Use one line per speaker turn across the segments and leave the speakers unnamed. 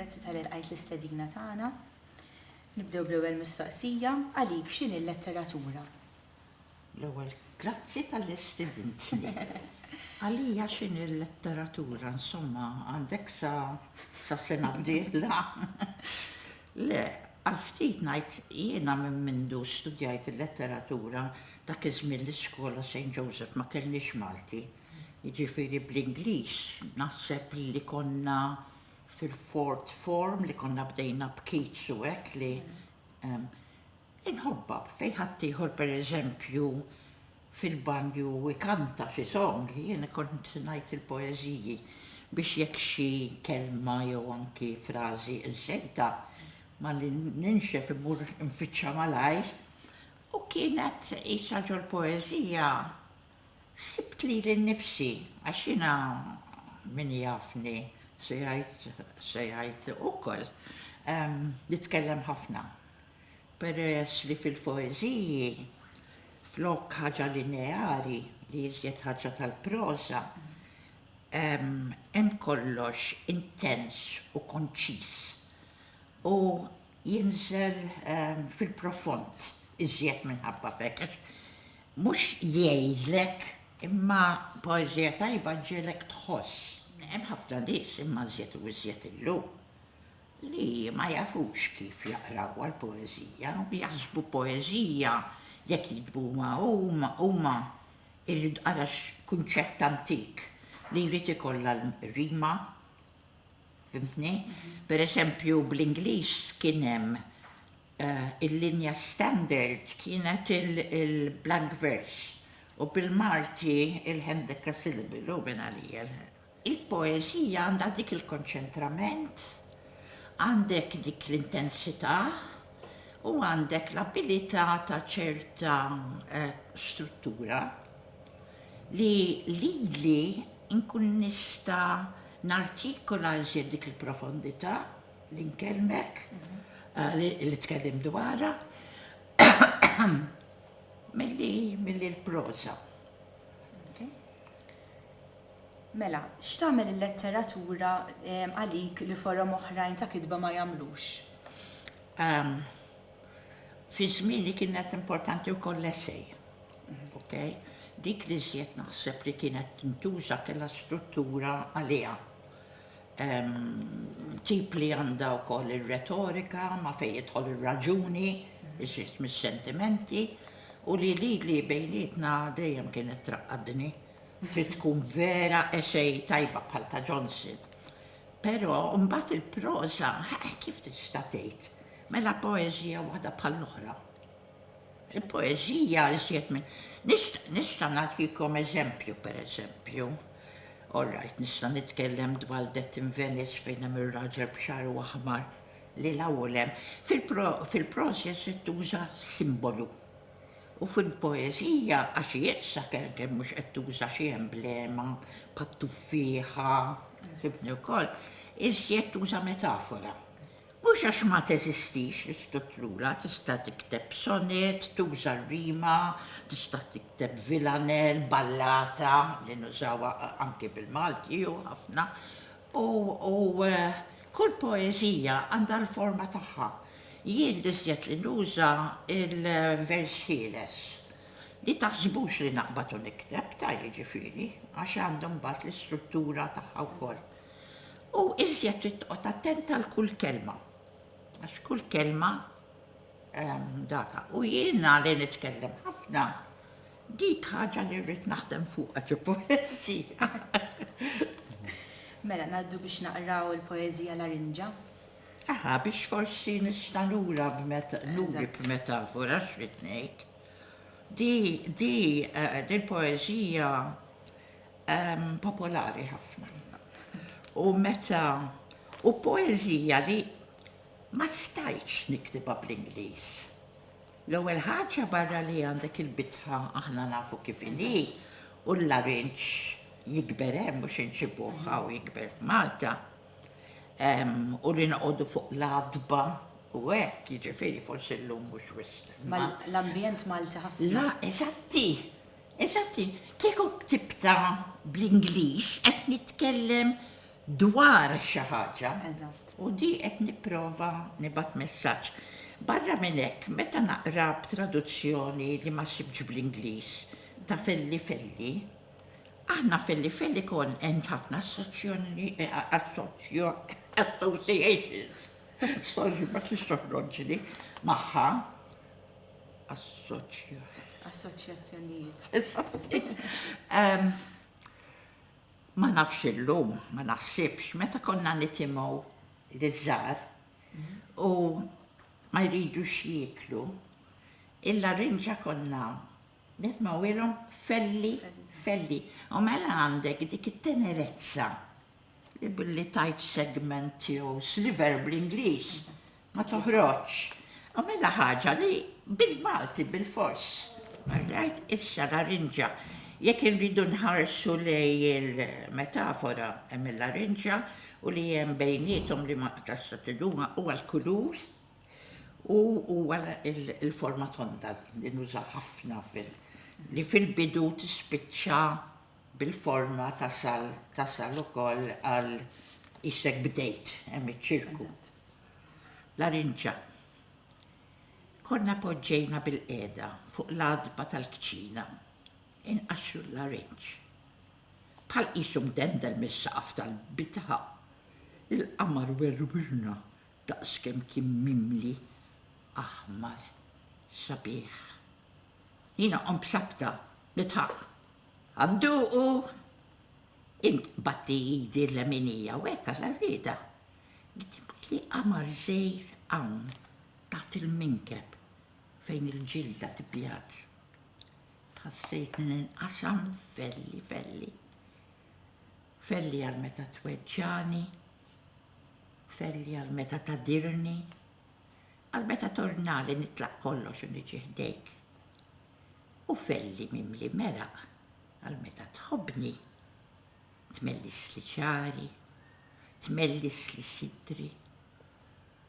Grazzi tal għajt l-istedina tagħna. Nibdew bl-ewwel mistoqsija għalik x'inhi l-letteratura?
L-ewwel, grazzi talli stidintni. Għalija x'inhi l-letteratura, insomma, għandek sa sas-sena d-dieħla? Le, għal ftit ngħid, jiena minn mindu studjajt il-letteratura, dak iż-żmien l-iskola Saint Joseph ma kellniex Malti, jiġifieri bl-Ingliż naħseb li konna fil-fourth form li konna bdejna b'Keats u hekk li, Inħobbha fejn ħaddieħor pereżempju fil-banju ikanta xi song, jien kont ngħid il-poeżiji biex jekk xi kelma jew anki frażi insejtha, malli ninxef immur infittxa malajr u kienet qisha ġol-poeżija sibt lili nnifsi għax jiena min jafni se jgħid se jgħid ukoll nitkellem ħafna. peress li fil-poeżiji, flok ħaġa lineari li iżjed ħaġa tal-proża, hemm kollox intens u konċiż u jinżel fil-profond iżjed minħabba f'hekk għax mhux jgħidlek imma poeżija tajba ġġiegħlek tħoss. Hemm ħafna nies imma iżjed u iżjed illum li ma jafux kif jaqrawha l-poeżija u jaħsbu poeżija jekk jiktbuha huma, irrid ara x'kunċett antik li jrid ikollha l-rima, fhimtni? Per eżempju bl-Ingliż kien hemm il-linja standard kienet il-blank verse u bil-Malti il-hendekasyllable u mingħalija. Il-poeżija għandha dik il-konċentrament, għandek dik l-intensità u għandek l-abilità ta' ċerta struttura li lili nkun nista' nartikola iżjed dik il-profondità li nkellmek, li tkellimt dwarha, milli l-proża.
Mela, x'tagħmel il-letteratura għalik li forom oħrajn ta' kitba ma jagħmlux? Ehm,
fi żmieni kienet importanti wkoll l-essej. Okej? Dik li żjed naħseb li kienet tintuża kellha struttura għaliha. Ehm, tip li għandha wkoll ir-retorika ma' fejn jidħol ir-raġuni, iżjed mis-sentimenti, u li lili bejnietna dejjem kienet traqqadni. Trid tkun vera essay tajba bħal ta' Johnson. Però mbagħad il-proża, eh, kif tista' tgħid? Mela poeżija waħda bħall-oħra. Il-poeżija iżjed minn nista' nagħtikom eżempju pereżempju. All right, nista' nitkellem dwar Death in Venice fejn hemm ir-raġel b'xagħru aħmar li l-ewwel hemm fil-prożja se tuża simbolu U fil-poeżija għax ieqsa kelkel mhux qed tuża xi emblema bħat-tuffieħa, fimtni wkoll, iżjed tuża metafora. Mhux għax ma teżistix l-istutrura, tista' tikteb sonett, tuża r-rima, tista' tikteb vilanell, ballata, li nużawha anki bil-Malti hu ħafna, U kull poeżija għandha l-forma tagħha. Jien l-iżjed li nuża l-vers ħieles, li taħsbux li naqbad u nikteb, ta' jiġifieri, għax għandha mbagħad l-istruttura tagħha wkoll. U iżjed trid toqgħod attent għal kull kelma, għax kull kelma, Data, u jiena li nitkellem ħafna, dik ħaġa li rrid naħdem fuqha xi poeżija.
Mela ngħaddu biex naqraw il-poeżija Larinġa. Aha,
biex forsi nista' lura nuri b'metafora x'rid ngħid. Di di eh, l-poeżija ehm, popolari ħafna. U meta u poeżija li Ma stajtx niktibha bl-Ingliż. L-ewwel ħaġa barra li għandek il-bitħa aħna nafu kif inhi u l-larinġ jikber hemm mhux inġibuh hawn jikber f'Malta. U li noqogħdu fuq l-għatba u hekk, jiġifieri forsi llum mhux wisq. Ma l-ambjent
Malti ħafna. La, eżatti,
eżatti. Kieku ktibtha bl-Ingliż qed nitkellem dwar xi ħaġa u di qed nipprova nibgħat messaġġ. Barra minn hekk, meta naqra b'traduzzjoni li ma sibtx bl-Ingliż ta' Felli Felli, aħna Felli Felli kont għand ħafna associations, sorry ma kienx toħroġli, magħha,
assoċjazzjonijiet.
Ma nafx illum, ma naħsibx, meta konna nitimgħu liż-żgħar u ma jridux jieklu, il-larinġa konna nitmgħuhilhom felli, felli. U mela għandek dik it-tenerezza li billi tgħid segment jew sliver bl-Ingliż, Ma toħroġx. Għamilha ħaġa li bil-Malti bilfors. All right, issa larinġa. Jekk irridu nħarsu lejn il-metafora hemm il-larinġa u li hemm bejniethom li ma nqtax sa tiluma huwa l-kulur u huwa l-forma tonda li nuża ħafna fil li fil-bidu tispiċċa bil-forma tasal tasal ukoll għal isek bdejt hemm iċ-ċirku. Larinġa. Konna poġġejna bilqiegħda fuq l-għatba tal-kċina inqaxxru l-larinġ. Bħal qisu mdendel mis-saqaf tal-bitħa, il-qamar werwirna daqskemm kien mimli aħmar sabiħ. Jiena qomt b'sabta nidħaq. Għanduqu! Int tbatti idi l-leminija u hekk għal-għarrieda Ktib li qamar żgħir hawn taħt il-minkeb fejn il-ġilda tibjad. Tħassejtni ninqasam f'velli velli. Felli għal meta tweġġagħni, felli għal meta tagħdirni, għal meta tornali nitlaq kollox u niġi ħdejk. U felli mimli meraq għal meta tħobbni. tmellisli ċari, tmellisli sidri,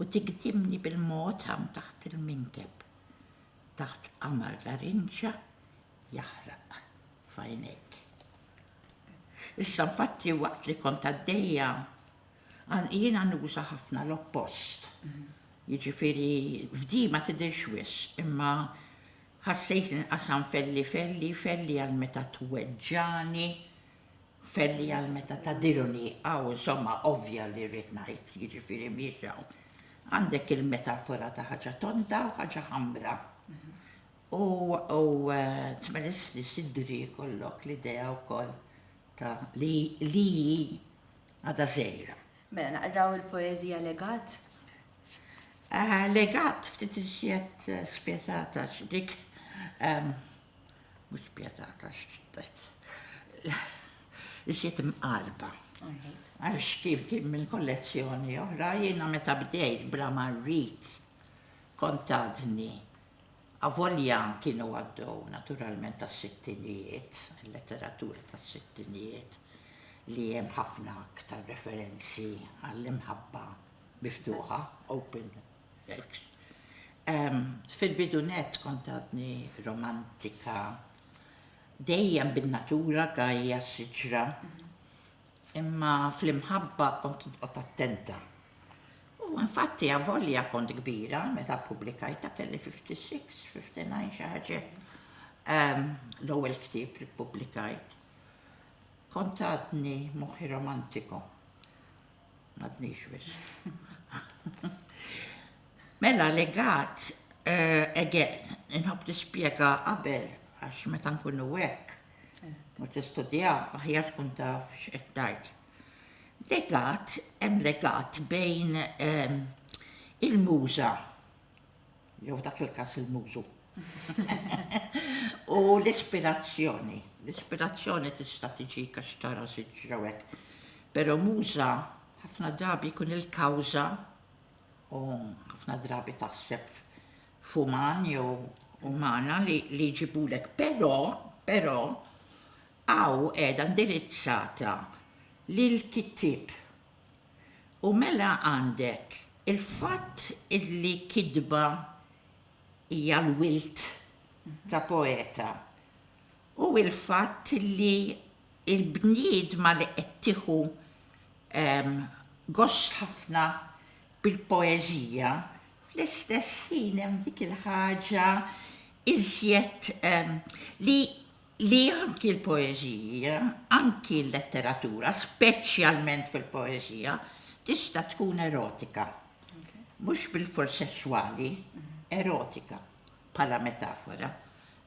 u tigdimni bil-mod hawn taħt il-minkeb, taħt qamar la rinġa jaħraq f'għajnejk. Issa nfatti waqt li kont għaddejja, jiena nuża ħafna l-oppost. Jiġifieri f'di ma tidhirx wisq, imma Ħassejt inqasam felli felli, felli għal meta tweġġagħni, felli għal meta tagħdiruni, hawn insomma ovvja li rrid ngħid, jiġifieri mhijiex hawn. Għandek il-metafora ta' ħaġa tonda u ħaġa ħamra. U tmelissli sidri jkollok l-idea wkoll ta' li hi għadha żgħira. Mela naqraw
il-poeżija Legat?
Legat ftit iżjed spjetata xi dik mhux spjetata x'tajt. Iżjed imqarba. Għax kif kien minn kollezzjoni oħra, jiena meta bdejt bla ma rrid kont għadni avolja kienu għaddew naturalment tas-sittinijiet, il-letteratura tas-sittinijiet li hemm ħafna aktar referenzi għall-imħabba miftuħa, open sex. Fil-bidu nett kont għadni romantika dejjem bin-natura gajja, siġra, imma fl-imħabba kont noqgħod attenta. U infatti avolja kont kbira meta ppubblikajtha kelli 56, 59 xi ħaġa hekk. L-ewwel ktieb li ppubblikajt. Kont għadni moħħi romantiku. M'għadniex wisq. Mela legat, again, inħobb nispjega qabel għax meta nkunu hekk u tistudja aħjar tkun taf x'qed tgħid. Legat, hemm legat bejn il-muża jew f'dak il-każ il-mużu, u l-ispirazzjoni. L-ispirazzjoni tista' tiġik għax tara siġra u hekk, però muża ħafna drabi jkun il-kawża u ħafna drabi taħseb f'uman jew umana li jġibulek. Però, però, hawn qiegħda indirizzata lill-kittieb. U mela għandek il-fatt li kitba hija l-wild ta' poeta u l-fatt li l-bniedma li qed tieħu gost ħafna bil-poeżija, fl-istess ħin hemm dik il-ħaġa iżjed li li anki l-poeżija, anki l-letteratura, speċjalment fil-poeżija, tista' tkun erotika, mhux bilfors sesswali, erotika, bħala metafora.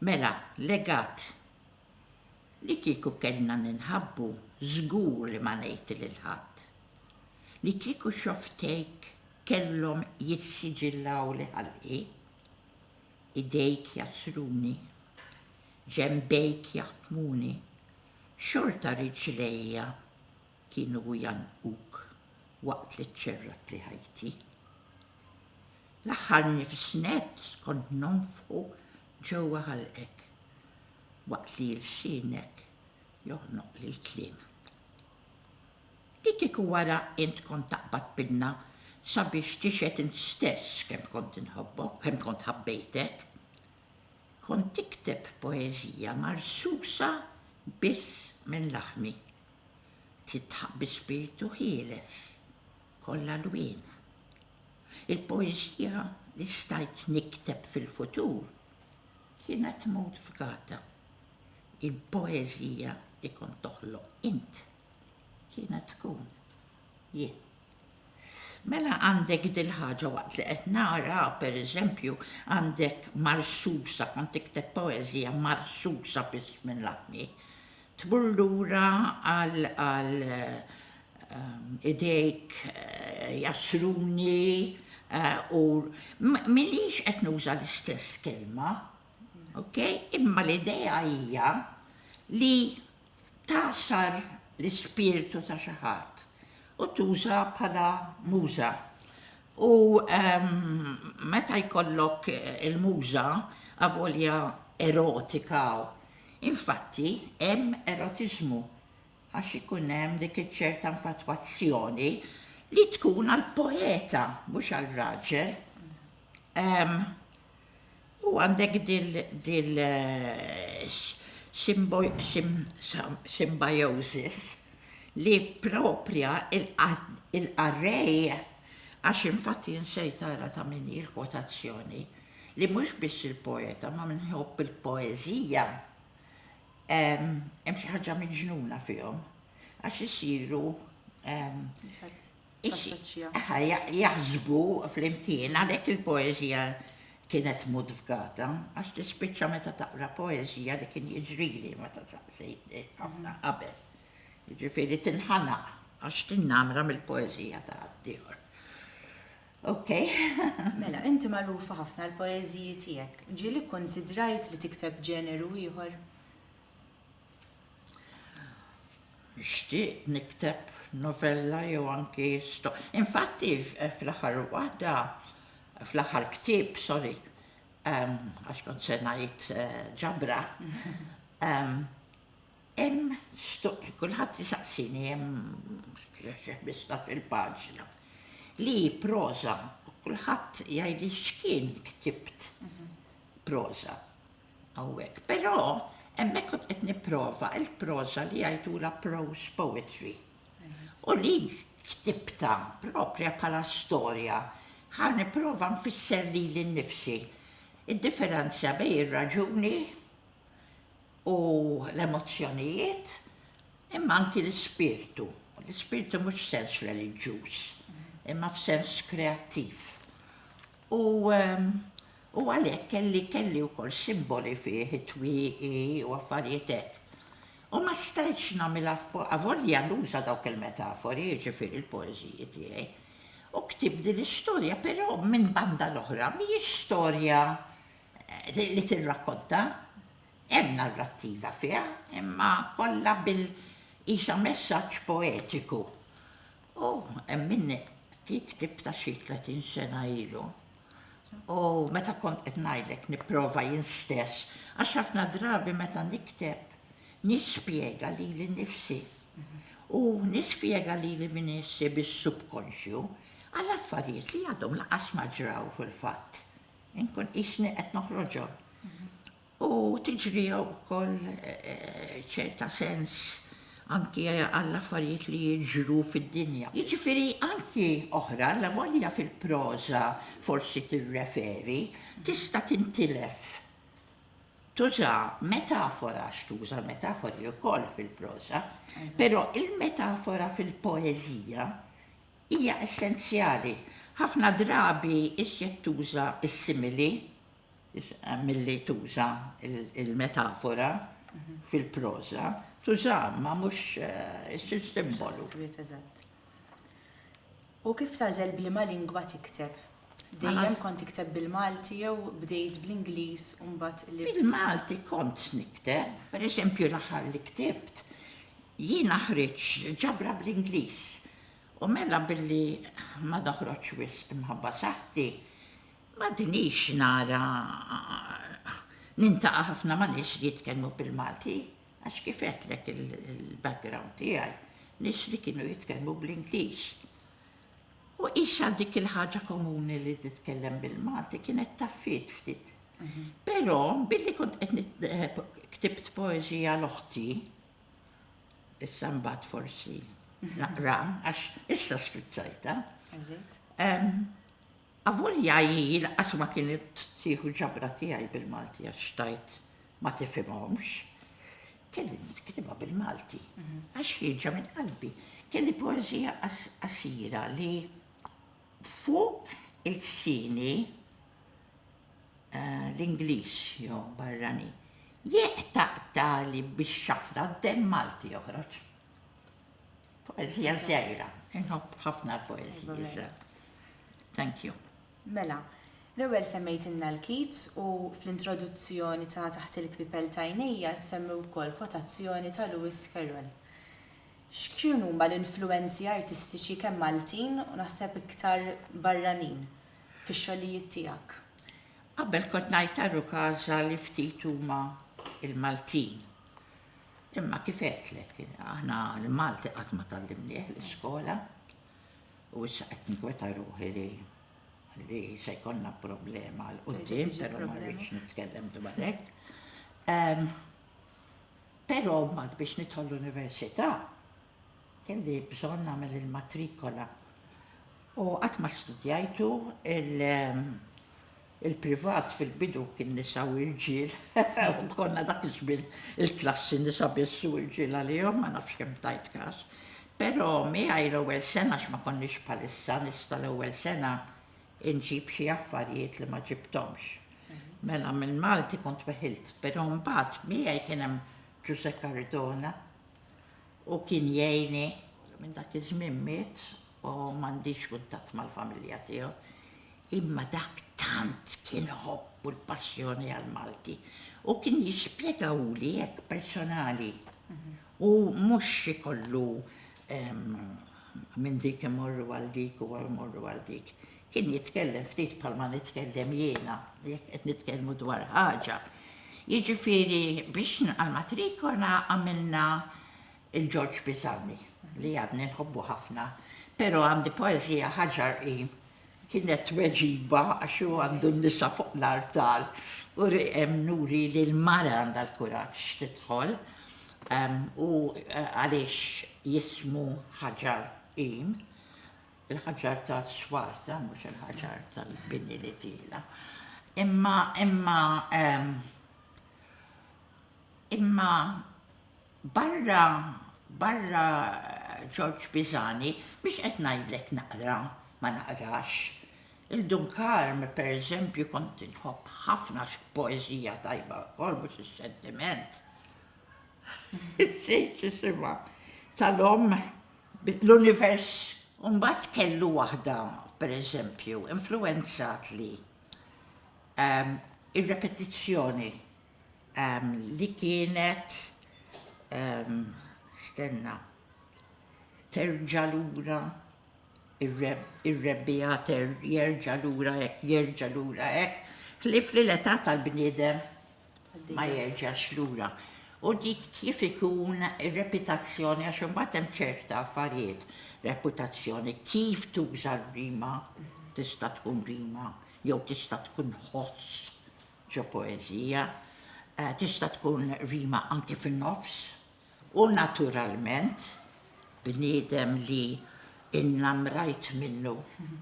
Mela, legat, li kieku kellna ninħabbu, żgur li ma ngħid lil ħadd. Li kieku xofftejk kellhom jissiġillaw li ħalqi. Idejk jgħassruni, ġenbejk jaħtmuni, xorta riġlejja kienu jgħannquk waqt li ċċerratli ħajti. L-aħħar nifs nett kont nonfħu ġewwa ħalqek, waqt li lsienek joħnoqli l-kliem. Li kieku wara int kont taqbad pinna sabiex tixhed int stess kemm kont inħobbok, kemm kont ħabbejtek. Kont tikteb poeżija marsusa biss minn laħmi. Tidħaq bi spirtu ħieles, kollha lwien. Il-poeżija li stajt nikteb fil-futur kienet mowt f'gata. Il-poeżija li kont toħloq int. Kienet tkun jien. Mela għandek dil-ħaġa waqt li qed nara, pereżempju, għandek Marsusa, kont tikteb poeżija Marsusa biss minn laħni. Tmur lura għal għal idejk jasruni u m'iniex qed nuża l-istess kelma, ok? Imma l-idea hija li tagħsar l-ispirtu ta' xi ħadd u tuża bħala muża. U meta jkollok il-muża, avolja erotika, infatti hemm erotiżmu għax ikun hemm dik iċ-ċerta nfatwazzjoni li tkun għall-poeta mhux għar-raġel. U għandek dil symbiosis li proprja il-qarrej, għax infatti nsejt ara ta' min hi l-kwotazzjoni, li mhux biss il-poeta ma' min iħobb il-poeżija hemm xi ħaġa miġnuna fihom għax isiru jaħsbu flimkien, għalhekk il-poeżija kienet mudfgata, għax tispiċċa meta taqra poeżija li kien jiġrili meta saqsejt ħafna qabel. Jiġifieri tinħanaq għax tinnamra mill-poeżija ta' ħaddieħor. Ok.
Mela, inti magħrufa ħafna għall-poeżiji tiegħek. Ġieli kkunsidrajt li tikteb ġeneru ieħor?
Xtieqt nikteb novella jew anki sto. Infatti fl-aħħar waħda, fl-aħħar ktieb, sorry, għax kont se ngħid ġabra, hemm sto, kulħadd isaqsini hemm xi ħmistax il-paġna li hi proża, kulħadd jgħidli x'kien ktibt proża. hawnhekk, però hemmhekk kont qed nipprova l-proża li jgħidulha prose poetry u li ktibtha proprja bħala storja ħa nipprova nfisser lili nnifsi d-differenza bejn ir-raġuni u l-emozzjonijiet imma anki l-ispirtu, l-ispirtu mhux f'sens reliġjuż imma f'sens kreattiv u U għalhekk kelli kelli wkoll simboli fih, it-twieqi u affarijiet hekk. U ma stajtx nagħmilha f'po avolja nuża dawk il-metafori, jiġifieri l-poeżiji tiegħi. U ktibt din l-istorja, però minn banda l-oħra mhijiex storja li tirrakkonta. Hemm narrattiva fiha, imma kollha bil qisha messaġġ poetiku. U hemm minni li ktibtha xi tletin sena ilu. U meta kont qed ngħidlek nipprova jien stess, għax ħafna drabi meta nikteb nispjega lili nnifsi u nispjega lili min iħsir bis-subkonxju għal affarijiet li għadhom lanqas ma ġraw fil-fatt. Inkun qisni qed noħroġhom. U tiġri wkoll ċerta sens anki għall-affarijiet li jiġru fid-dinja. Jiġifieri anki oħra, allavolja fil-proża forsi tirreferi, tista' tintilef. Tuża metafora għax tuża metafori wkoll fil-proża, però l-metafora fil-poeżija hija essenzjali. Ħafna drabi iżjed tuża s-simili Milli tuża l-metafora fil-proża, tużaha imma mhux issir simbolu.
U kif tagħżel b'liema lingwa tikteb? Dejjem kont tikteb bil-Malti jew bdejt bl-Ingliż u mbagħad qlibt? Bil-Malti kont
nikteb. Per eżempju l-aħħar li ktibt, jiena ħriġt ġabra bl-Ingliż u mela billi ma noħroġx wisq imħabba saħħti, M'għadnix nara nintaqa' ħafna ma' nies li jitkellmu bil-Malti għax kif għedtlek il-background tiegħi nies li kienu jitkellmu bl-Ingliż. U qisha dik il-ħaġa komuni li titkellem bil-Malti kienet taffiet ftit. Però billi kont qed ktibt poeżija l-oħti, issa mbagħad forsi naqra għax issa sfrizzajtha, Avolja hi lanqas ma kienet tieħu ġabra tiegħi bil-Malti għax xtajt ma tifhimhomx, kelli niktibha bil-Malti għax ħierġa minn qalbi. Kelli poeżija qasira li fuq ilsieni l-Ingliż jew barranin jeqtaqtagħli bix-xafra d-demm Malti joħroġ. Poezija żgħira, inħobb ħafna l-poezija. Thank you. Mela,
l-ewwel semmejtilna l-Keats u fl-introduzzjoni ta' taħt il-kwipel tajnejja semmi wkoll kwotazzjoni ta' Lewis Carroll. X'kienu huma l-influwenzi artistiċi kemm Maltin u naħseb iktar barranin fix-xogħlijiet tiegħek? Qabel
kont ngħid għar-Rukasa li ftit huma l-Maltin. Imma kif għedtlek, aħna l-Malti qatt ma tgħallimnieh l-iskola u issa qed nkweta ruħi li li se jkollna problema għal qudiem, però ma rridx nitkellem dwar hekk. Ehm, però mbagħad biex nidħol l-università kelli bżonn nagħmel il-matrikola. U qatt ma studjajtu il- ehm, Il-privat fil-bidu kien nisa u irġiel, konna dak iż-żmien il-klassi nisa biss u irġiel għalihom, ma nafx kemm tajt kas. Però miegħi l-ewwel sena għax ma konniex bħalissa nista' l-ewwel sena inġib xi affarijiet li ma ġibthomx. Mela minn Malti kont weħilt, però mbagħad miegħi kien hemm Ġużè Cardona u kien jgħinni. Minn dak iż-żmien miet U m'għandix kuntatt mal-familja tiegħu. Imma dak tant kien ħobb u l-passjoni għall-Malti. U kien jispjegawli hekk personali. U mhux ikollu minn dik imorru għal dik u mmorru għal dik. Kien jitkellem ftit bħalma nitkellem jiena, jekk qed nitkellmu dwar ħaġa. Jiġifieri biex nilqa' l-matrikola għamilna il-George Pisani, li għadni nħobbu ħafna, pero' għandi poeżija Ħaġar hi kienet tweġiba għax hu għandu n-nisa fuq l-artal u hemm nuri li l-mara għandha l-kuraġġ tidħol u għaliex jismu Ħaġar hi, il-ħaġar tas-swarta mhux il-ħaġar tal-bini li tiela'. Imma imma imma Barra, barra Ġorġ Pisani, mhux qed ngħidlek naqra, ma naqrax. Il-Dun Karm, pereżempju, kont inħobb ħafna x'poeżija tajba wkoll, mhux ix-xentiment. Insejt x'isimha. Tal-omm, l-univers. U mbagħad kellu waħda, pereżempju, influwenzatli, ir-repetizzjoni li kienet stenna terġa' lura ir-rebbiegħa jerġa' lura hekk jerġa' lura hekk, ħlief li l-età tal-bniedem ma jerġax lura. U dik kif ikun ir-reputazzjoni għax imbagħad hemm ċerta affarijiet, reputazzjoni, kif tuża r-rima tista' tkun rima jew tista' tkun ħoss Ġo poeżija, tista' tkun rima anki fin-nofs u naturalment bniedem li innamrajt minnu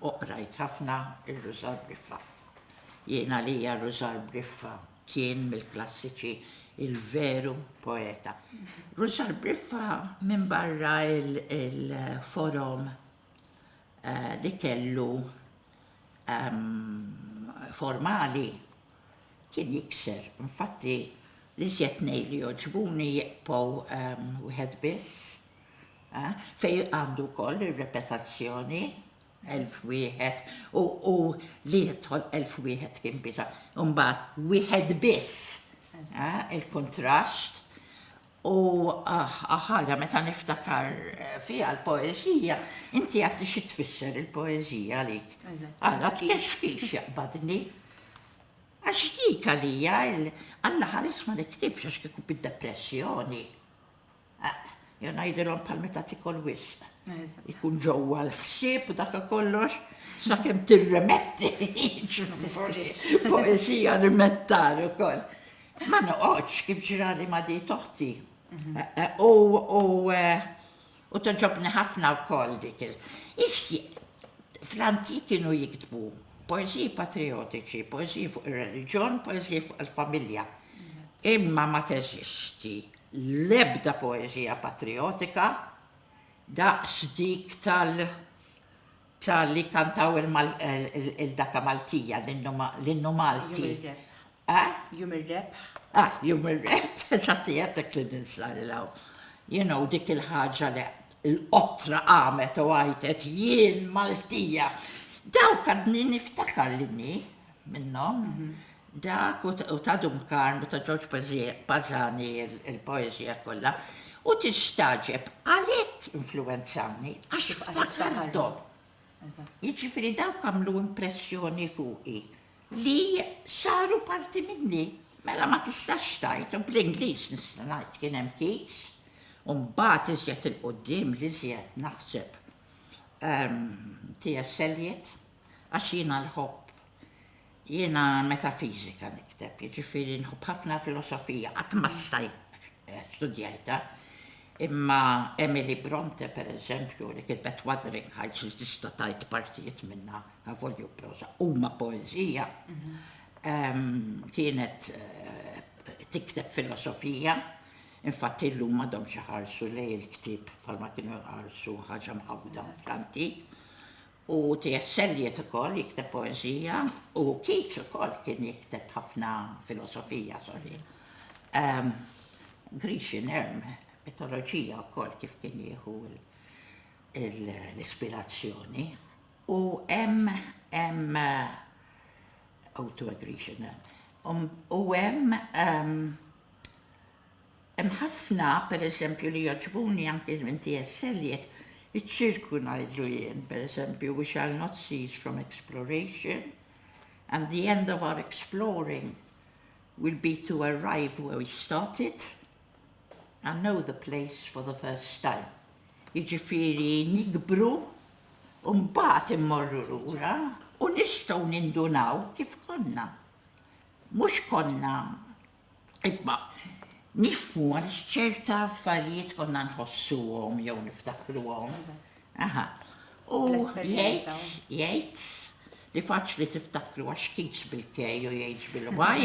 u qrajt ħafna ir-Rużar Briffa. Jien għalija Rużar Briffa kien mill-klassiċi il-veru poeta. Rużar Briffa minbarra l-forom li kellu formali kien jikser. Infatti, l-iżjed tnejn li jogħġbuni jieqpgħu wieħed biss, fejn għandu wkoll ir-repetazzjoni, elf wieħed, u li jidħol elf wieħed kien biża'. Imbagħad wieħed biss, il-kuntrast, U ħaġa meta niftakar fiha l-poeżija, inti għadtli xi tfisser il-poeżija għalik. Għala tkexkix jaqbadni. Għax dik għalija Alla ħares ma niktibx għax kieku bid-depressjoni. Jew ngħidilhom bħal meta tikol wisq. Ikun ġewwa l-ħsieb u dak kollox sakemm tirremetti. Poesija rimettar ukoll. Ma noqgħodx kif ġrali ma' dit oħti. U toġobni ħafna wkoll dik il. Fl-antik kienu jiktbu poeżiji patrijotiċi, poeżiji fuq ir-reliġjon, poeżiji fuq il-familja. Imma ma teżisti l-ebda poeżija patrijotika daqs dik tal tal-li kantaw il-daka Maltija, l-innu Malti. A,
Jum ir-Rebħ. A, Jum
ir-Rebħ, eżatt hija dik li tinsar 'il hawn. You know, dik il-ħaġa li l-qottra qamet u għajtet, Jien Maltija! Dawk għadni niftakar li nni minnhom. Dak u ta' Dun Karm u ta' Ġorġ Bażani il-poeżija kollha. U tistagħġeb għalhekk influwenzawni għax ftakarthom. Jiġifieri dawk għamlu impressjoni fuqi. Li saru parti minni. Mela ma tistax tgħid, u bl-Ingliż nista' ngħid kien hemm kiss, u mbagħad iżjed 'il quddiem l-iżjed naħseb TS. Eliot, għax jiena nħobb, jiena metafisika nikteb, jiġifieri nħobb ħafna filosofija, qatt ma stajt studjajtha, imma Emily Brontë, per eżempju, li kitbet Wuthering Heights li tista' tgħid partijiet minnha, avolja hu proża, huma poeżija, kienet tikteb filosofija, infatt illum m'għadhomx iħarsu lejn il-ktieb bħalma kienu jħarsu ħaġa mqawwda fl-antik. U T.S. Eliot ukoll jikteb poeżija, u Keats ukoll kien jikteb ħafna filosofija, sorry. Grecian erm, mitoloġija wkoll kif kien jieħu l-ispirazzjoni. U hemm, hemm, O to a Grecian erm. U hemm, Hemm ħafna, per eżempju, li jogħġbuni anki minn TS. Eliot, iċ-ċirku ngħidlu jien, per eżempju, we shall not cease from exploration and the end of our exploring will be to arrive where we started and know the place for the first time. Jiġifieri nikbru u mbagħad immorru lura u nistgħu nindunaw kif konna. Mhux konna Imma nifhmu għaliex ċerta affarijiet konna nħossuhom jew niftakruhom. Aha. U jgħid, jgħid li faċli tiftakru għax kids bil-kej u jgħid bil-waj,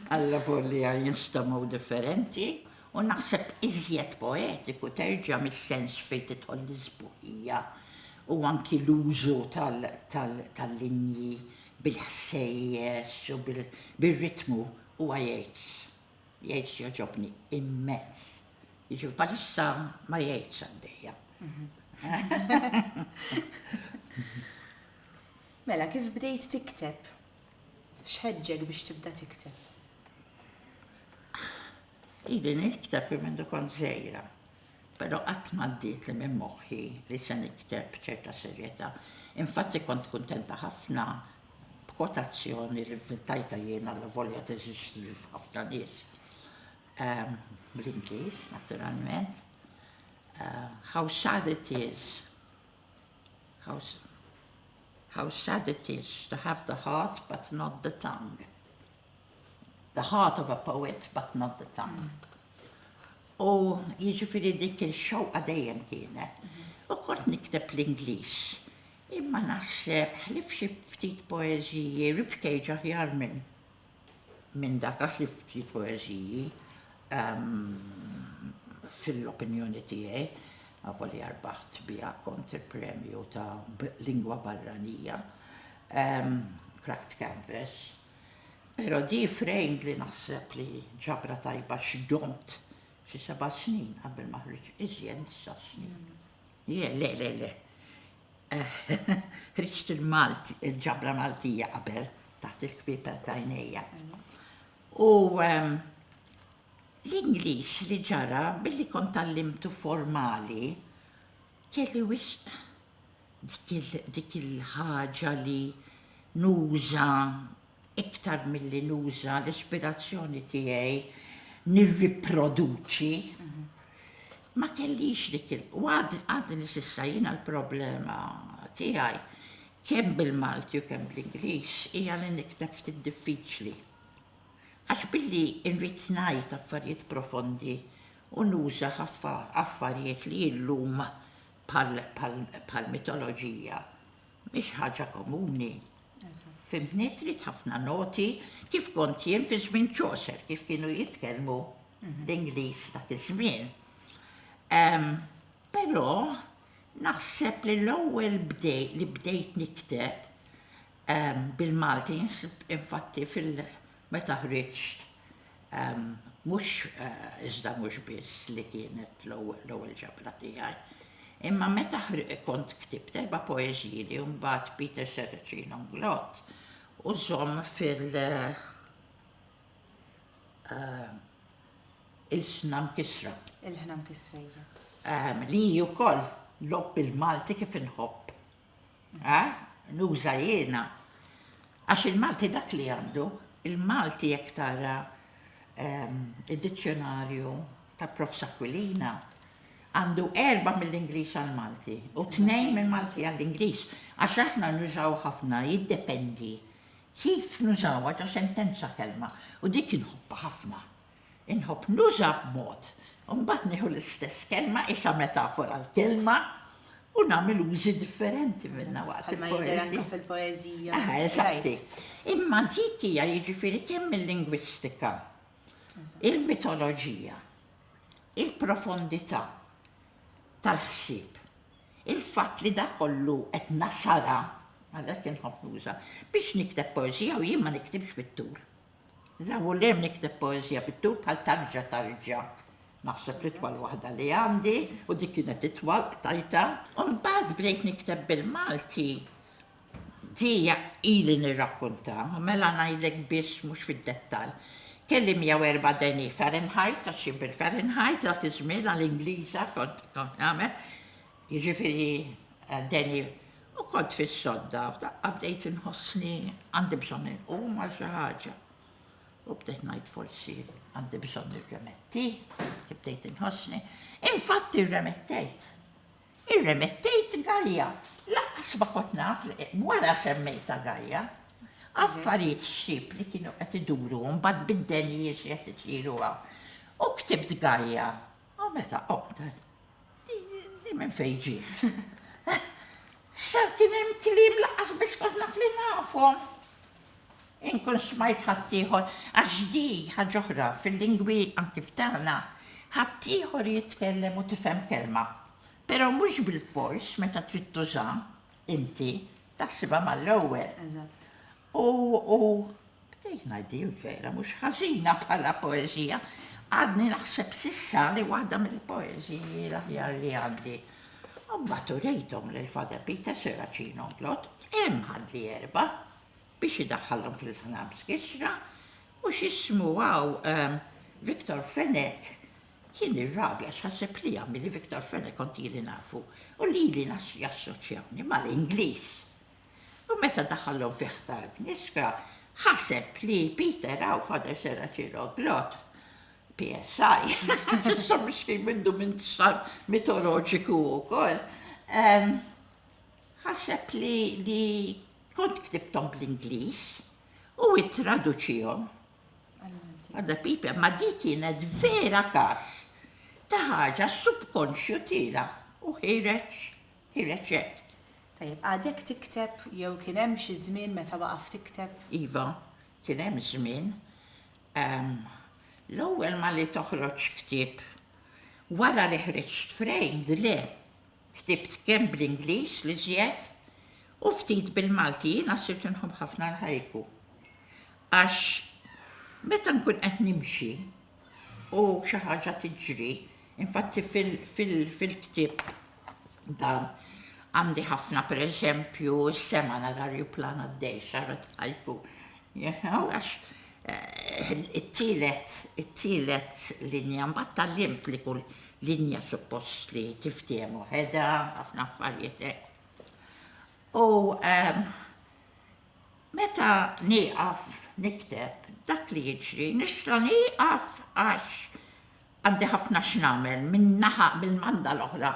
għalla volja jinstamaw differenti, u naħseb iżjed poetiku terġa' mis-sens fejn tidħol l-isbuħija u anki l-użu tal-linji bil-ħsejjes u bir-ritmu huwa jgħid, jgħid jogħġobni immens. Jiġifieri bħalissa ma jgħidx għaddejja.
Mela, kif bdejt tikteb? X'ħeġġek biex tibda tikteb?
Ili nikteb minn kont żejra. Però qatt m'għaddietli minn moħħi li se nikteb b'ċerta serjetà. Infatti kont kuntenta ħafna b'kwotazzjoni li nventajtha jien allavolja teżisti f'ħafna nies. Bl-Ingliż, naturalment. How sad it is, how, how sad it is to have the heart but not the tongue. The heart of a poet but not the tongue. U jiġifieri dik il-xewqa dejjem kienet. U kont nikteb bl-Ingliż. Imma naħseb, ħlief xi ftit poeżiji, Rip Cage aħjar minn dak għax li ftit poeżiji fil-opinjoni tiegħi, avolja rbaħt biha kont il-premju ta' lingwa barranija, Cracked Canvas. Pero di frame li naħseb li ġabra tajba x'domt xi seba' snin qabel ma ħriġ iżjed disa' snin. Je, le, le, le. Ħriġt il-Malti, il-ġabra Maltija qabel taħt il-kpiepel t'għajnejja. U l-Ingliż li ġara billi kont tgħallimtu formali, Kelli wisq dik il-ħaġa li nuża iktar milli nuża l-ispirazzjoni tiegħi nirriproduċi. Ma kellix dik il-, u għadni s'issa jiena l-problema tiegħi kemm bil-Malti u kemm bl-Ingliż hija li nikteb ftit diffiċli. Għax billi nrid ngħid affarijiet profondi u nuża ħafna affarijiet li illum bħall-mitoloġija mhix ħaġa komuni. Fimtni? Trid ħafna noti kif kont jien fi żmien Chaucer, kif kienu jitkellmu mhm. l-Ingliż dak iż-żmien. Però naħseb li l-ewwel bdej li bdejt nikteb bil-Malti infatti fil- Meta ħriġt, mhux iżda mhux biss li kienet l-ewwel ġabra tiegħi, imma meta kont ktibt erba' poeżiji li mbagħad Peter Serracino Nglott u żomm fil ilsna mkissra. Ilħna mkissra,
iva. Li hi
wkoll logħob bil-Malti kif inħobb. Ha? Nuża jiena? Għax il-Malti dak li għandu, il-Malti jekk tara ehm, id-dizzjonarju ta' Prof. Aquilina, għandu erba' mill-Ingliż għall-Malti u tnejn mill-Malti għall-Ingliż. Għax aħna nużaw ħafna, jiddependi kif nużawha ġo sentenza kelma u dik inħobba ħafna. Inħobb nuża b'mod, u mbagħad nieħu l-istess kelma qisha metafora l-kelma u nagħmel użi differenti minnha waqt il-poeżija. fil-poeżija. Aha,
eżatti.
Imma dik hija jiġifieri kemm il-lingwistika, il-mitoloġija, il-profondità tal-ħsieb, il-fatt li dak kollu qed nasara, għalhekk inħobb nuża, biex nikteb poeżija u jien ma niktibx fit-tul. La vulem nikteb poeżija bit-tul bħal Tarġa tarġa. Naħseb l-itwal waħda li għandi, u dik kienet itwal, qtajtha. U mbagħad bdejt nikteb bil-Malti. Di ili nirrakkontha, u mela ngħidlek biss mhux fid-dettall. Kelli 104 degni Fahrenheit, għax jien bil-Fahrenheit dak iż-żmien għall-Ingliża kont nagħmel, jiġifieri degni U kont fis-sodda, f'daqqa bdejt inħossni għandi bżonn inqum għal xi ħaġa. U bdejt ngħid forsi għandi bżonn nirremetti, kif bdejt inħossni. Infatti rremettejt. Irremettejt Gajja. Laqqas ma kont naf li wara semmejta Gajja. Affarijiet xxib li kienu qed iduru mbagħad bid-denji xi qed isiru hawn. U ktibt Gajja U meta qomtet, di minn fejn ġiet? Sar kien hemm kliem lanqas biss kont naf li nafhom. Inkun smajt ħaddieħor, għax di ħaġa oħra fil-lingwi anki f'tagħna, ħaddieħor jitkellem u tifhem kelma, però mhux bilfors meta trid tużaha inti taħsibha mal-ewwel.
U
Bdejt ngħiddi l-vera mhux ħażina bħala poeżija. Għadni naħseb s'issa li waħda mill-poeżiji l-aħjar li għandi. U mbagħad urejthom lil Father Peter Serracino Mplott, hemm ħadli erba' biex idaħħalhom fil-ħnams kisra, u x'ismu hawn Victor Fenech kien irrabja għax ħaseb li għamili Victor Fenech kont ili nafu u lili jassoċjawni mal-Ingliż. U meta daħallhom fi ħtar knisra, ħaseb li Peter hawn Father Serracino glott. PSI. Issa miskin mindu minn sar mitoloġiku wkoll. Ħaseb li li kont ktibthom bl-Ingliż u ittraduċihom. Għadda pipe, ma di kienet vera każ ta' ħaġa subkonxju tiela u ħireġ Ħireġ hekk. Tajjeb,
għadek tikteb jew kien hemm xi żmien meta waqaft tikteb? Iva,
kien hemm żmien. Ehm, l-ewwel malli toħroġ ktieb. Wara li ħriġt Framed, le. Ktibt kemm bl-Ingliż l-iżjed u ftit bil-Malti. Jiena sirt inħobb ħafna l-haiku. Għax meta nkun qed nimxi, u xi ħaġa tiġri. Infatti fil-ktieb dan għandi ħafna per eżempju s-sema nara rjuplan għaddej xarra tħajtu. Għax eh, it-tielet, it-tielet linja mbagħad tal-limt li kull linja suppost li tiftiemu ħeda, ħafna affarijiet. Eh. U ehm, Meta nieqaf nikteb dak li jiġri nista' nieqaf għax għandi ħafna x'nagħmel minn naħa mill-banda l-oħra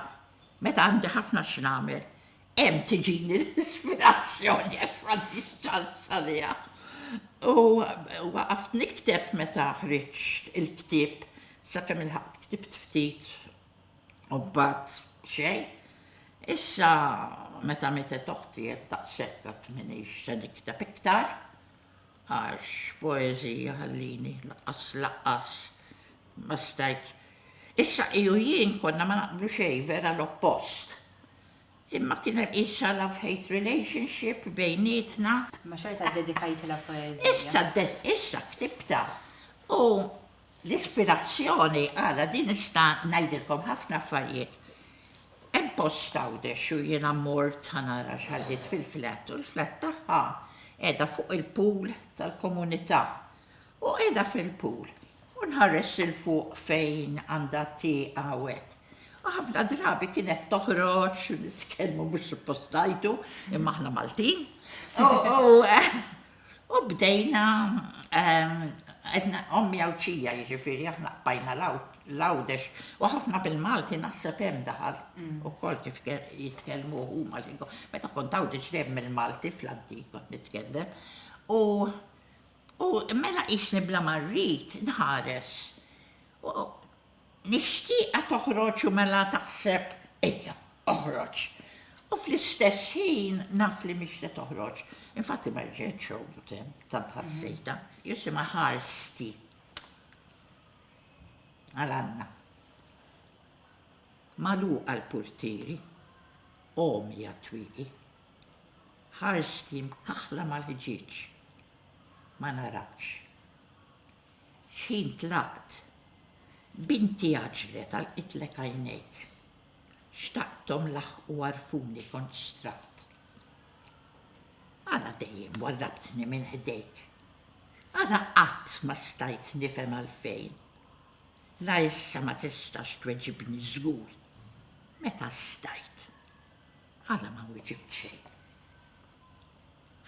meta għandi ħafna x'nagħmel hemm tiġini l-ispirazzjoni għax m'għandix ċans għaliha. U waqaft nikteb meta ħriġt il-ktieb sakemm ilħaqt ktibt ftit U mbagħad xejn. Issa meta mietet oħti qed taqsek qatt m'iniex se nikteb iktar għax poeżija ħallini laqqas laqqas ma stajt. Issa hi u jien konna ma naqblu xejn, vera l-oppost. Imma kien hemm qisha love-hate relationship bejnietna. Imma xorta
ddedikajtilha poeżija. Issa dded, issa
ktibtha. U L-ispirazzjoni għala din nista' ngħidilkom ħafna affarijiet. Hemm post Għawdex u jiena mort ħa nara x'ħalliet fil-flat u l-flat tagħha qiegħda fuq il-pool tal-komunità. U qiegħda fil-pool u nħares 'il fuq fejn għandha t-tieqa u hekk. U ħafna drabi kienet toħroġ, nitkellmu mhux suppost ngħidu, imma aħna Maltin, u U bdejna għedna ommi Għawdxija jiġifieri aħna qbajna l-Għawdex u ħafna bil-Malti naħseb hemm daħal ukoll kif jitkellmu huma l-lingwa. Meta kont Għawdex dejjem mill-Malti fl-antik kont nitkellem u u mela qisni bla ma rrid nħares. Mixtieqa toħroġ u mela taħseb, ejja, oħroġ. U fl-istess ħin naf li mhix se toħroġ. Infatti ma rġietx xogħdut hemm, tant ħassejtha. Jisimha ħarsti għal Anna. Magħluqa l-purtieri, għomja t-twieqi. Ħarsti mkaħħla mal-ħġieġ. Ma naratx. X'ħin tlaqt! Binti għaġġlet għal qitlek għajnejk. Xtaqthom laħħqu għarfuni kont xtraqt. Għala dejjem warrabtni minn ħdejk? Għala qatt ma stajt nifhem għalfejn? La issa ma tistax tweġibni żgur. Meta stajt? Għala ma wiġibt xejn?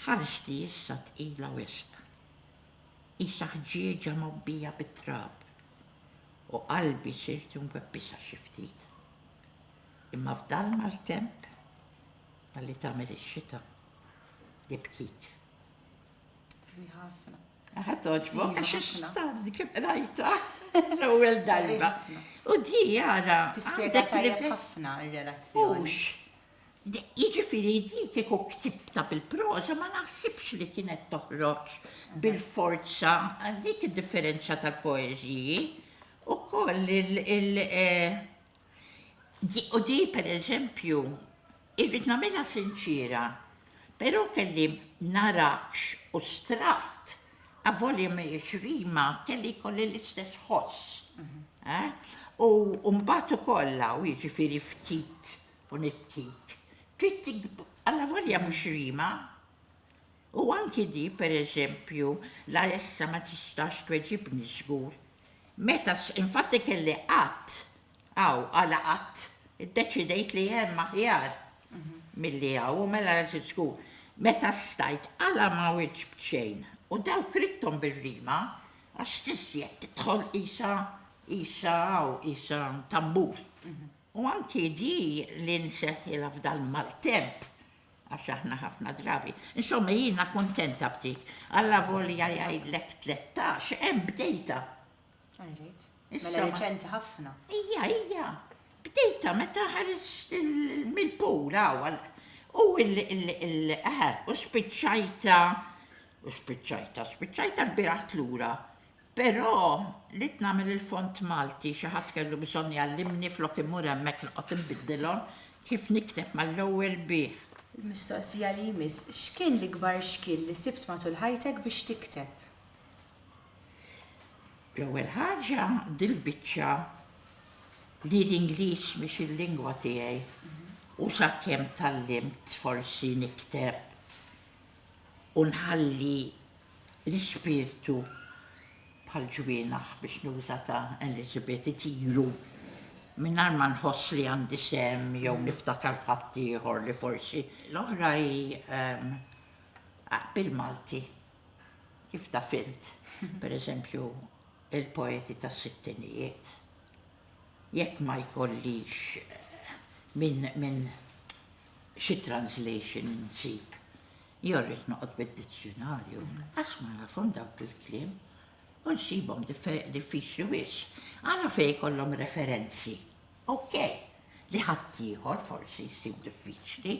Ħarsti issa tqila wisq. Qisha ħġieġa mgħobbija bit-trab, u qalbi sirt imwebbisha xi ftit. Imma f'dan l-maltemp ta' li tagħmel ix-xita, li bkit. Hi ħafna.
Aha togħġbok għax
ix-xita kif qrajtha l-ewwel darba. U di ara. Tispjega tajjeb
ħafna r-relazzjoni. Hux
Jiġifieri di kieku ktibtha bil-proża ma naħsibx li kienet toħroġ bil-forza, dik id-differenza tal-poeżiji. Ukoll il u di pereżempju irrid nagħmilha sinċiera, però kelli narakx u straħt, avolja mhijiex rima, kelli jkolli l-istess ħoss. U mbagħad ukoll hawn jiġifieri ftit u nittit. Trid tikb alla volja mhux rima. U anki di, per eżempju, la issa ma tistax tweġibni żgur. Meta s infatti kelli qatt, hawn, għala qatt, iddeċidejt li hemm aħjar milli hawn, u mela l-għażiż żgur. Meta stajt, għala ma wieġbt xejn? U dawk ridthom bir-rima, għax tiżjed tidħol qisha, qisha hawn, qisha tambur. U anki di li nseħħilha f'dal-maltemp, għax aħna ħafna drabi. Insomma, jiena kuntenta b'dik. Allavolja jgħidlek tlettax, hemm bdejtha.
Rajt. Mela reċenti ħafna. Ija, ija.
Bdejtha meta ħares mill-pool hawn. U l-qahar, u spiċċajta, u spiċċajta, spiċċajta l-biraħt lura. Però ridt nagħmel il-font Malti, xi ħadd kellu bżonn jgħallimni flok immur hemmhekk noqgħod inbiddilhom, kif nikteb mal-ewwel bih. Il-mistoqsija li
jmiss, x'kien l-ikbar xkiel li sibt matul ħajtek biex tikteb?
L-ewwel ħaġa dil-biċċa li l-Ingliż mhix il-lingwa tiegħi u sakemm tgħallimt forsi nikteb u nħalli L-ispirtu, bħal ġwienaħ, biex nuża ta' Elizabeth, itiru mingħajr ma nħoss li għandi sehem jew niftakar f'ħadd ieħor li forsi. L-oħra hi bil-Malti, kif taf int, per eżempju, il-poeti tas-sittinijiet, jekk ma jkollix minn xi translation insib Jew rrid noqgħod bid-dizzjunarju għax ma nafhom dawk il-kliem u nsibhom diffiċli wisq. Ara fejn ikollhom referenzi. Ok, li ħaddieħor forsi jsib diffiċli.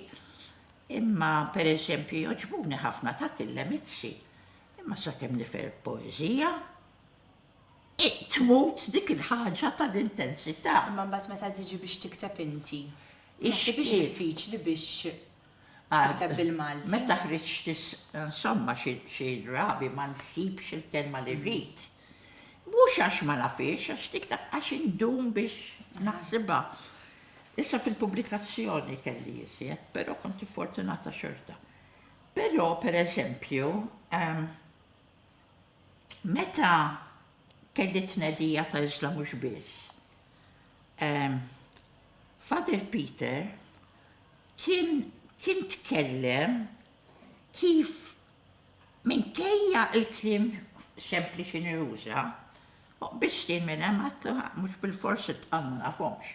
Imma, per eżempju, jogħġbuni ħafna dak il-Lemizzi. Imma sakemm nifhem il-poeżija, tmut dik il-ħaġa tal-intensità. Imma mbagħad meta tiġi
biex tikteb inti, ma tibhiex diffiċli biex tikteb bil-Malti. Meta ħriġt
insomma xi drabi ma nsibx il-kelma li rrid. Mhux għax ma nafhiex, għax dik għax indum biex naħsibha. Issa fil-pubblikazzjoni kelli iżjed, però kont fortunata xorta. Però, pereżempju, meta kelli t-tnedija ta' Iżla Mhux Biss, Father Peter, Kim kien tkellem kif minkejja l-kliem sempliċi Nirusa, u qbiżt jien minn hemm għidtlu ha, mhux bilfors it-tqal ma nafhomx.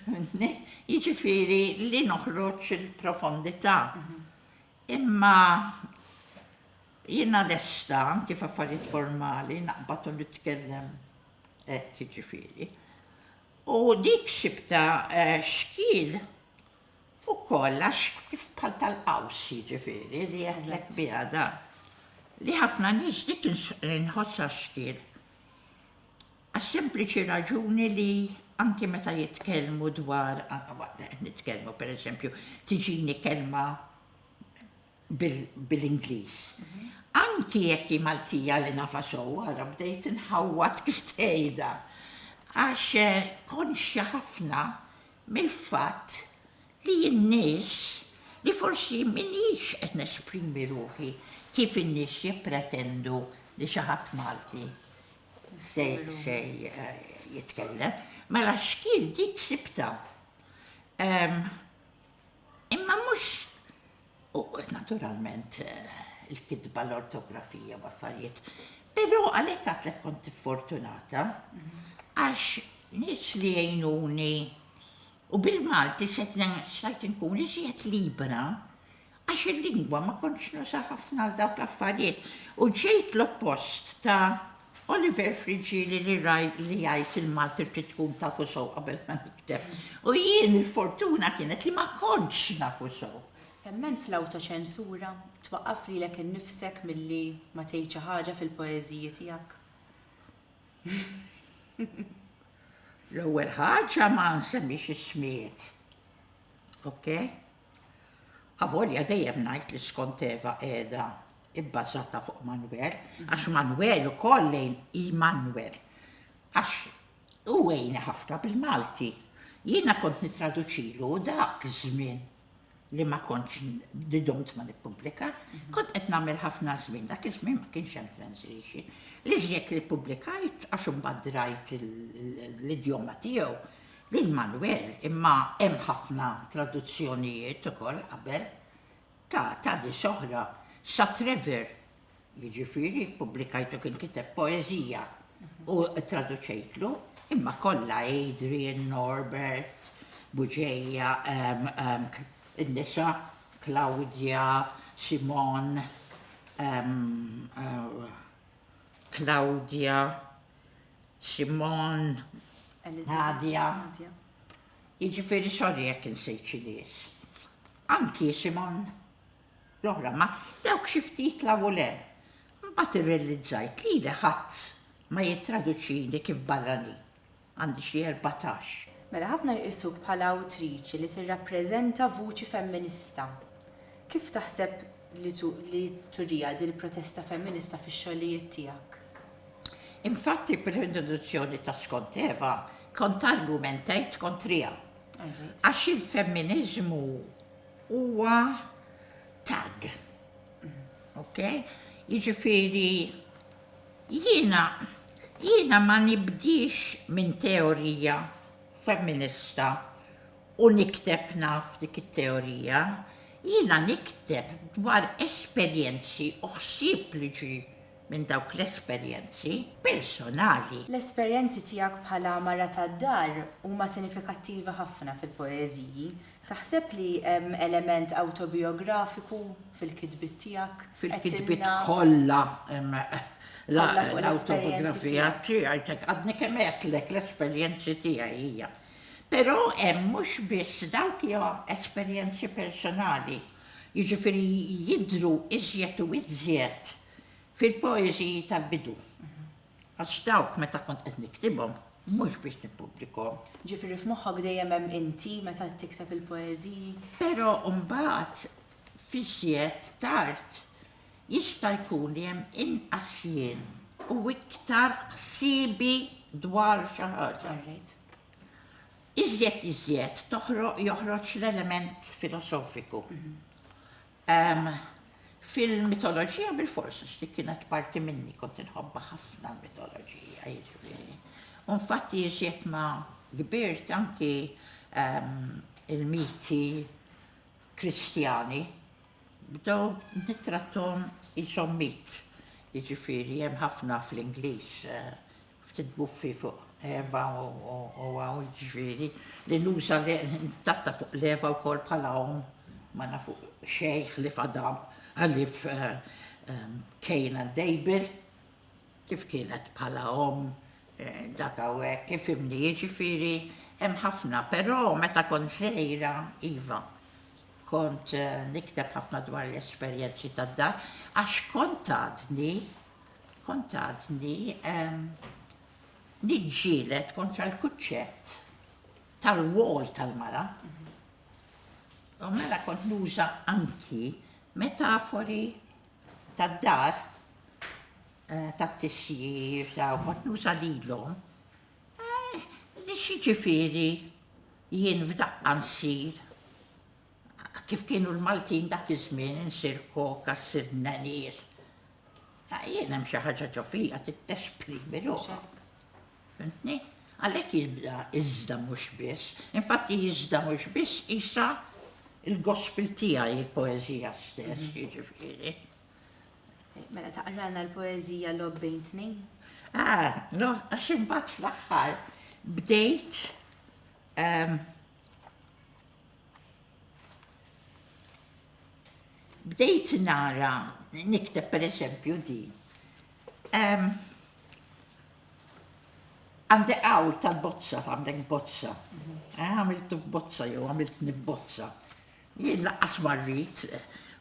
Fhimtni? Jiġifieri li noħroġ il-profondità. Imma jiena lesta anki f'affarijiet formali naqbad u nitkellem hekk jiġifieri. U dik sibtha xkiel ukoll għax kif bħal tal-qaws jiġifieri li jeħdlek biha dan. Li ħafna nies dik inħossha xkiel. Għas-sempliċi raġuni li anki meta jitkellmu dwar, anke waqt li qed nitkellmu pereżempju tiġini kelma, bil-Ingliż. Anki jekk hi Maltija li nafha sew, ara bdejt inħawwad kif tgħidha, għax konxja ħafna mill-fatt li jien nies li forsi m'iniex qed nesprimi ruħi kif in-nies jippretendu li xi ħadd Malti se jitkellem. Mela xkiel dik sibtha. Imma mhux U naturalment il-kitba, l-ortografija u affarijiet. Però għalhekk għadtlek kont fortunata għax nies li jgħinuni u bil-Malti stajt inkun iżjed libera għax il-lingwa ma kontx nużaha ħafna għal dawk l-affarijiet u ġejt l-oppost ta' Oliver Frigili li raj li jgħid il-Malti trid tkun tafu sew qabel ma nikteb. U jien il-fortuna kienet li ma kontx nafu sew. Temmen
fl-awtoċensura? Twaqqaf lilek innifsek milli ma tgħid xi ħaġa fil-poeżiji tiegħek?
L-ewwel ħaġa ma nsemmix ismijiet. Ok? Avolja dejjem ngħid li skont Eva qiegħda bbażata fuq Manwer, għax Manwer ukoll lejn Immanwer, għax hu għejni ħafna bil-Malti. Jiena kont nittraduċilu u dak iż-żmien li ma kontx li dumt ma nippubblika, kont qed nagħmel ħafna żmien, dak iż-żmien ma kienx hemm translation. L-iżjed li ppubblikajt għax imbagħad rajt l-idjoma tiegħu, Lil Manwel, imma hemm ħafna traduzzjonijiet ukoll qabel, ta' tali xoħra sa Trevor, jiġifieri ppubblikajtu kien kiteb poeżija u ttraduċejtlu, imma kollha Adrian, Norbert, Buġeja, in-nisa, Claudia, Simone, Claudia, Simon, Nadja,
jiġifieri
sorry jekk insejt xi nies. Anki Simon, l-oħra, ma dawk xi ftit 'l hawn u 'l hemm. Imbagħad irrelizzajt lili ħadd ma jittraduċini kif barranin. Għandi xi erbatax. Mela ħafna jqisuk
bħala awtriċi li tirrappreżenta vuċi femminista. Kif taħseb li turiha din il-protesta femminista fix-xogħlijiet tiegħek.
Infatti b'rintroduzzjoni ta' skont Eva kont argumentajt kontriha. Għax il-femminiżmu huwa tag. Ok? Jiġifieri jiena jiena ma nibdix minn teorija femminista u nikteb naf dik it-teorija, jiena nikteb dwar esperjenzi u ħsieb li ġie minn dawk l-esperjenzi personali. L-esperjenzi
tiegħek bħala mara tad-dar huma sinifikattivi ħafna fil-poeżiji. Taħseb li hemm element awtobijografiku fil-kitbiet tiegħek? Fil-kitbiet
kollha hemm l-awtobiografija tiegħi, għadni kemm għedtlek l-esperjenzi tiegħi hija. Però hemm mhux biss dawk li ha esperjenzi personali, jiġifieri jidhru iżjed u iżjed fil-poeżiji tal-bidu. Għax dawk meta kont qed niktibhom mhux biex nippubblikahom. Jiġifieri f'moħħok
dejjem hemm inti meta qed tikteb il-poeżiji? Però
mbagħad f'iżjed tard. Jista' jkun li hemm inqas jien u iktar ħsiebi dwar xi ħaġa. Iżjed iżjed joħroġ l-element filosofiku. Fil-mitoloġija bilfors għax dik kienet parti minni, kont inħobbha ħafna l-mitoloġija jiġifieri. U infatti iżjed ma kbirt anki il-miti Kristjani, Bdew nittrattahom qishom mitt, jiġifieri hemm ħafna fl-Ingliż, ftit buffi fuq Eva u hawn jiġifieri li nuża nittratta fuq l-Eva wkoll bħala omm ma nafu xejn ħlief Adam ħlief Cain and Abel kif kienet bħala omm dak hawnhekk ifhimni jiġifieri hemm ħafna però meta kont żgħira iva Kont nikteb ħafna dwar l-esperjenzi tad-dar għax kont għadni, kont għadni niġġieled kontra l-kuċċett tal-wol tal-mara. U mela kont nuża anki metafori tad-dar, eh, tat-tisjir, kont nuża lilhom Eh, xiġifieri jien f'daqqa nsir kif kienu l-Maltin dak iż-żmien insir koka, ssir nenies. Ah, jien hemm xi ħaġa ġo fija tittesprimi ruħha. Fimtni? Għalhekk jibda iżda mhux biss. Infatti iżda mhux biss isa il-gospel tiegħi il-poeżija stess, mhm. jiġifieri.
Mela taqralna l-poezija lob bejn tnejn? Ah,
għax imbagħad fl-aħħar bdejt ehm, bdejt nara nikteb per eżempju di. Ehm, għandi għaw tal-bozza, għamlek bozza. Mhm. Eh, għamiltu bozza jew għamilt nibbozza. Jien lanqas ma rrid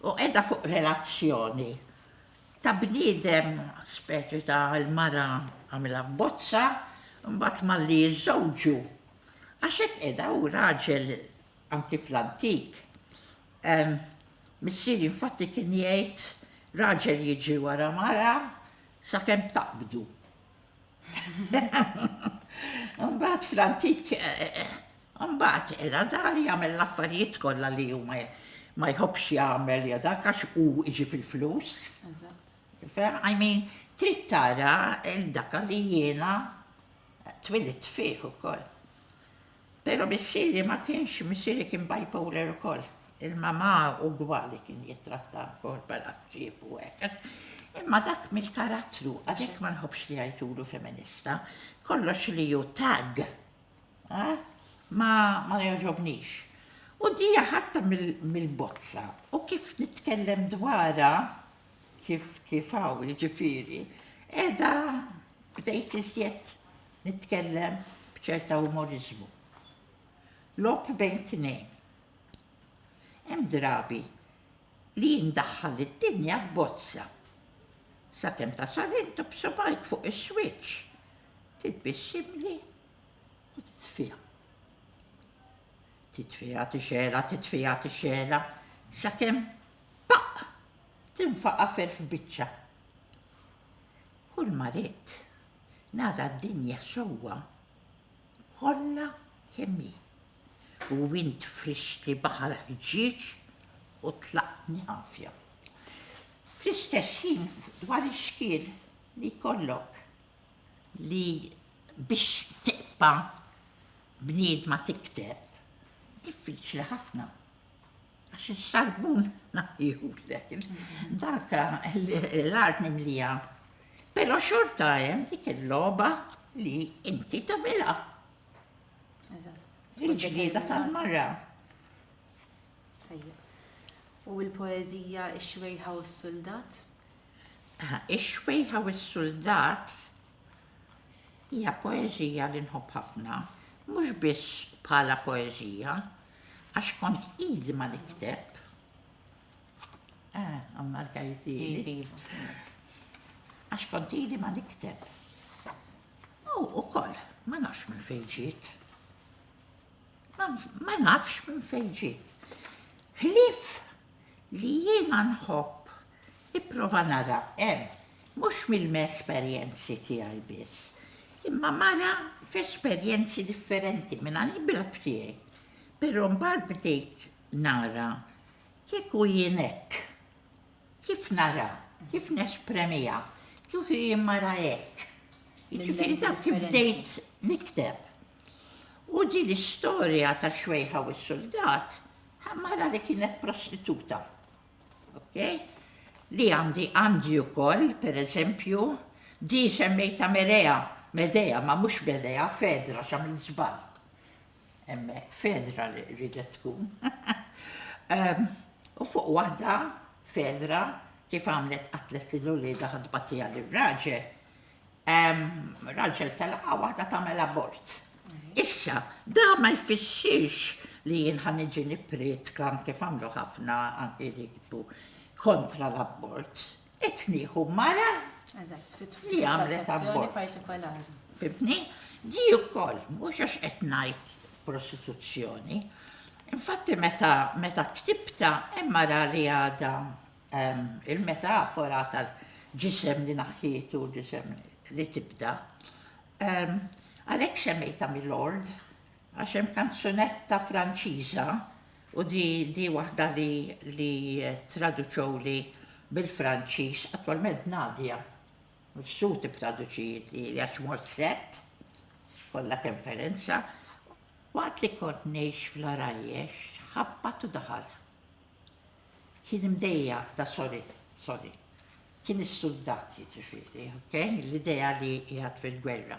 u qiegħda fuq relazzjoni ta' bniedem speċi ta' l-mara għamilha f'bozza u mbagħad malli jiżżewġu għax hekk qiegħda hu raġel anki fl-antik. Missieri infatti kien jgħid raġel jiġri wara mara sakemm taqbdu. Mbagħad fl-antik, mbagħad era dar jagħmel l-affarijiet kollha li hu ma jħobbx jagħmel ja dak għax hu iġib il-flus. I mean, trid tara il-daka li jiena twilit fih ukoll. Pero missieri ma kienx, missieri kien bipolar ukoll. Il-mamà ugwali kien jittrattha wkoll bħala ħġieb u hekk. Imma dak mill-karattru, għalhekk ma nħobbx li jgħidulu feminista, kollox li hu tagg ma jogħġobnix. U dija ħadtha mill-bozza u kif nitkellem dwarha kif kif hawn jiġifieri, qiegħda bdejt iżjed Nitkellem b'ċerta umoriżmu. Logħob bejn tnejn. Hemm drabi li jien ndaħħal lid-dinja f'bozza. Sakemm tasal int u b'subgħajk fuq is-switch, titbissimli u titfiha. Titfiha tixgħelha, titfiha tixgħelha, sakemm paqq! tinfaqa' f'elf biċċa. Kulma ridt Nara d-dinja sewwa kollha kemm hi, u int frixtli baħal ħġieġ u tlaqtni għafja. Fl-istess ħin dwar ix-xkiel li jkollok li biex tiqta' bniedma tikteb, diffiċli ħafna. Għax is-sarbun ma jgħidulek. Dak l-art mimlija. Però xorta hemm dik il-logħba li inti tagħmilha. Il-ġlieda tal-mara.
U l-poeżija Ix-xwejħa u s-suldat?
Ix-xwejħa u s-suldat hija poeżija li nħobb ħafna, mhux biss bħala poeżija, Għax kont ili ma nikteb. Ah, għamma l-kajt ili. Għax kont ili ma nikteb. U u koll, ma nafx minn fejġiet. Ma nafx minn fejġiet. Hlif li jiena nħobb Nipprova nara hemm, mhux mill-esperjenzi tiegħi biss, imma mara f'esperjenzi differenti minn għall-imra tiegħi. Però mbagħad bdejt nara kieku jien hekk, kif naraha, kif nespremiha, kieku jien mara hekk. Jiġifieri dak kif bdejt nikteb. U din l-istorja tax-xwejħa u s-suldat, mara li kienet prostituta. Ok? Li għandi għandi wkoll, pereżempju, di semmejta Merea, Medea, ma mhux Medea, Fedra, x'għamilt żball. Hemmhekk Fedra li ridet tkun. Ehm, u fuq waħda Fedra kif għamlet qatlet lil uliedha ħadbatija lir-raġel, Raġel telaqgħa waħda tagħmel abort. Issa, da ma jfissirx li jien ħa niġi nipprietka kif għamlu ħafna anki li jkbu kontra l-abort. Qed nieħu mara li għamlet abort. partikolari. Fibni, di wkoll mhux għax qed ngħid prostituzzjoni. Infatti meta meta ktibta hemm mara li għadha Il-metafora tal-ġisem li naħħietu u ġisem li tibda. Għalhekk semmejtha Milord għax hemm kanzunetta Franċiża u di waħda li traduċewli bil-Franċiż, attwalment Nadia Mifsud tittraduċietli għax mort sett, kollha kemm Ferenza, waqt li kont ngħix fl-Għarajjex, ħabbat u daħal. Kien imdejjaq da sorry, sorry. Kien is-suldat jiġifieri, ok? L-idea li qiegħed fil-gwerra.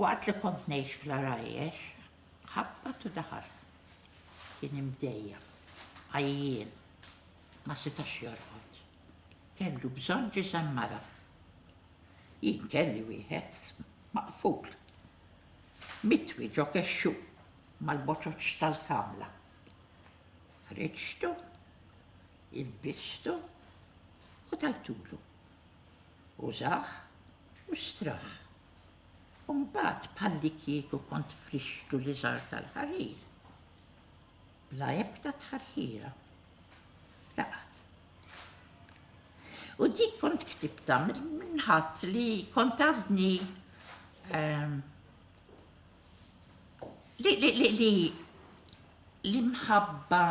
Waqt li kont ngħix fl-Għarajjex, ħabbat u daħal. Kien imdejjaq, għajjien, ma setax jorqod. Kellu bżonn ġisem mara. Jien kelli wieħed maqful. Mitwi ġo kexxu mal-boċoċ tal-kamla. Ħriġtu, ilbistu u tajtulu. Użah u strah. U mbagħad bħallikieku kont frixtu l-iżgħar tal-ħarir. Bla ebda tħarħira. Raqad. U dik kont ktibtha minn ħadd li kont għadni ehm, li li li li l-imħabba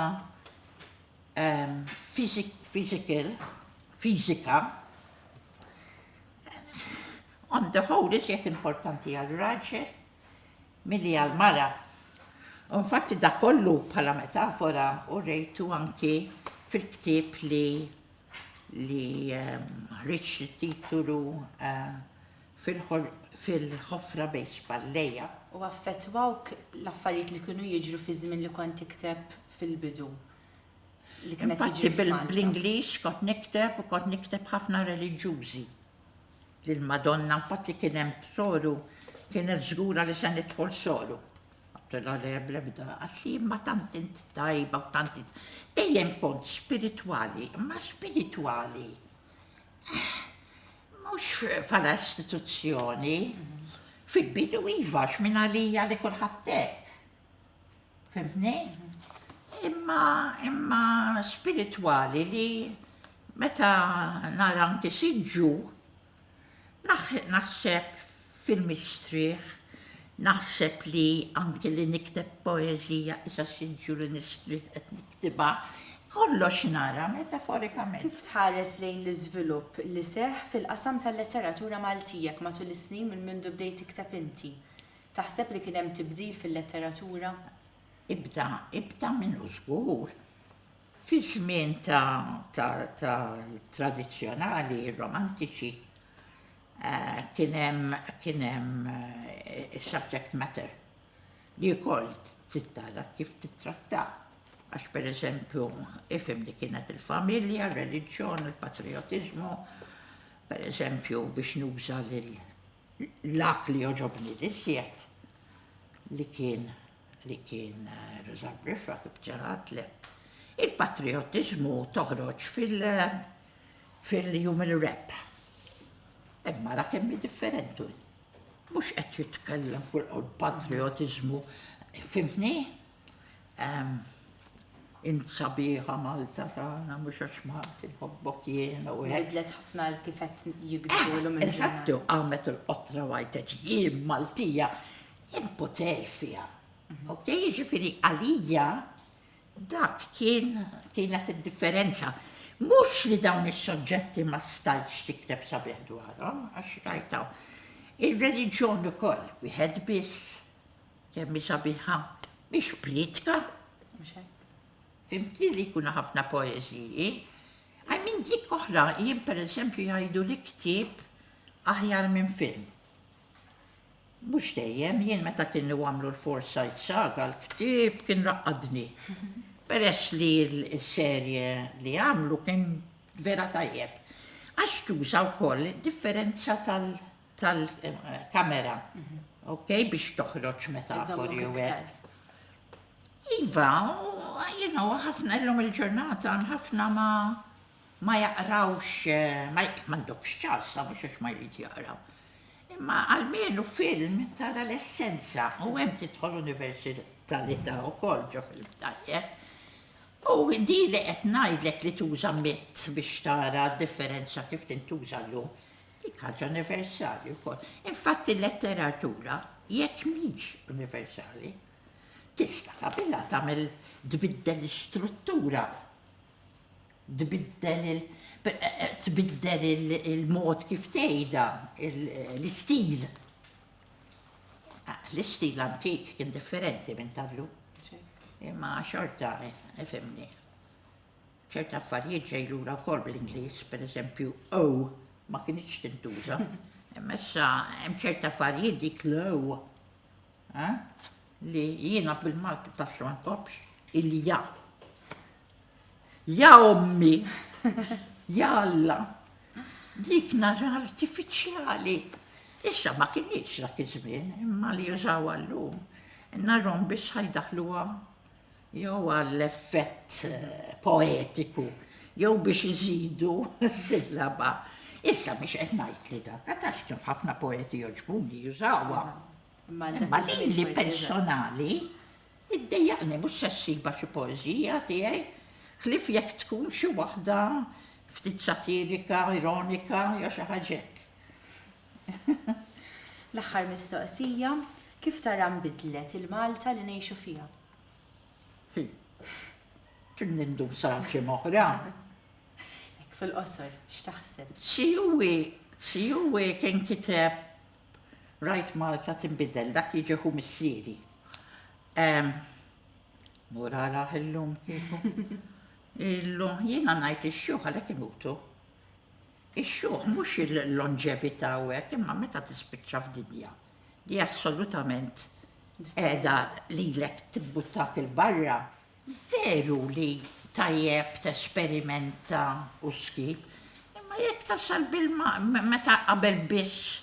ehm, fizik, fizikal, fizika, on the whole iżjed importanti għal raġel milli għal mara. Unfatti da kollu bħala metafora u rejtu anki fil-ktib li li ehm, ħriġ titulu uh, eh, fil-ħofra bejn xballejja. U affettwawk
l-affarijiet li kienu jiġru fiż-żmien li kont tikteb fil-bidu li
kien qed jiġri f'Malta? Infatti bl-Ingliż kont nikteb u kont nikteb ħafna reliġjużi lill-Madonna, infatti kien hemm soru kienet żgura li se nidħol soru. Għattilha le bl-ebda, għax imma tant int tajba u tant int. Dejjem kont spiritwali, imma spiritwali Mhux bħala istituzzjoni. Fil-bidu iva, x'min għalija li kulħadd hekk. Fimtni? Imma imma spiritwali li meta nara anki siġġu naħseb fil-mistrieħ, naħseb li anki li nikteb poeżija isa siġġu li nistrieħ qed niktibha, kollox nara metaforikament. Kif tħares lejn
l-iżvilupp li seħħ fil-qasam tal-letteratura Maltijek matul is-snin minn mindu bdejt tikteb inti? Taħseb li kien hemm tibdil fil-letteratura? Ibda,
ibda minnu żgur. Fiż-żmien ta' ta' ta' tradizzjonali, romantiċi, Kien hemm, kien hemm is-subject matter li wkoll trid tara kif tittrattah. Għax pereżempju, ifhem li kienet il-familja, r-reliġjon, il-patrijotiżmu, pereżempju biex nuża l-att li jogħġobni l-iżjed li kien li kien Roża Briffa kif ġarratlek. Il-patrijotiżmu toħroġ fil- fil-jum ir-Rebħ. Hemm ara kemm hi differenti. Mhux qed jitkellem fuq il-patrijotiżmu, fimtni? Int sabiħa Malta tagħna mhux għax Malti nħobbok jiena u hekk. Bidlet ħafna kif qed
jigdulu minn. Eżattu, qamet
il-qotra wajtet jien Maltija hemm poter fiha. Ok, jiġifieri għalija Dak kien, kienet id-differenza. Mhux li dawn is-soġġetti ma stajtx tikteb sabiħ dwarhom, għax rajt hawn. Ir-reliġjon ukoll, wieħed biss, kemm hi sabiħa, mhix prietka. Fimtni li jkunu ħafna poeżiji. Għaj minn dik oħra, jien pereżempju jgħidu li ktieb aħjar minn film. Mhux dejjem, jien meta kienu għamlu l-Forsyte Saga l-ktieb kien raqqadni. Peress li s-serje li għamlu kien vera tajjeb. Għax tuża wkoll id-differenza tal-kamera, ok, biex toħroġ metafori u hekk. Iva, u ħafna llum il-ġurnata hemm ħafna ma ma jaqrawx, ma għandokx ċans mhux għax ma jrid jaqra. Imma almenu film tara l-essenza u hemm tidħol universalità wkoll ġo film tajjeb. U di li qed ngħidlek li tuża mitt biex tara d-differenza kif tintuża llum, dik ħaġa universali wkoll. Infatti l-letteratura jekk mhix universali, tista' tabilha tagħmel tbiddel l-istruttura tbiddel il tbiddel il-mod kif tgħidha, l-istil. L-istil antik kien differenti minn tal-lum. Imma xorta, ifhimni. ċerta affarijiet ġej lura wkoll bl-Ingliż, pereżempju, o ma kinitx tintuża. Imma issa hemm ċerta affarijiet dik l-o Eeh? Li jiena bil-Malti taf ma nkoppx? Il-ja. Ja ommi! Ja Alla! Dik nar artifiċjali! Issa ma kinitx dak iż-żmien, imma li jużawha llum, narhom biss ħa jdaħħluha jew għall-effett poetiku jew biex iżidu sillaba. Issa mhix qed ngħid li dak, għad taf kif ħafna poeti jogħġbuni jużawha. Imma lili personali, iddejjaqni mhux se ssibha xi poeżija tiegħi, ħlief jekk tkun xi waħda ftit satirika, ironika jew xi ħaġa hekk.
L-aħħar mistoqsija, kif tara nbidlet il-Malta li ngħixu fiha? Hi.
Trid nindum sa għal xi oħra? Hekk fil-qosor,
x'taħseb? Tsiuwi,
tsiuwi kien kiteb Rajt Malta tinbidel, dak jiġi ħu missieri. Mur araħ illum kieku. Illum jiena ngħid ix-xjuħ għalhekk imutu. Ix-xjuħ mhux il-longevità u hekk imma meta tispiċċa f'dinja li assolutament qiegħda lilek tibbuttak il-barra Veru li tajjeb tesperimenta u ssib, imma jekk tasal bil-ma meta qabel biss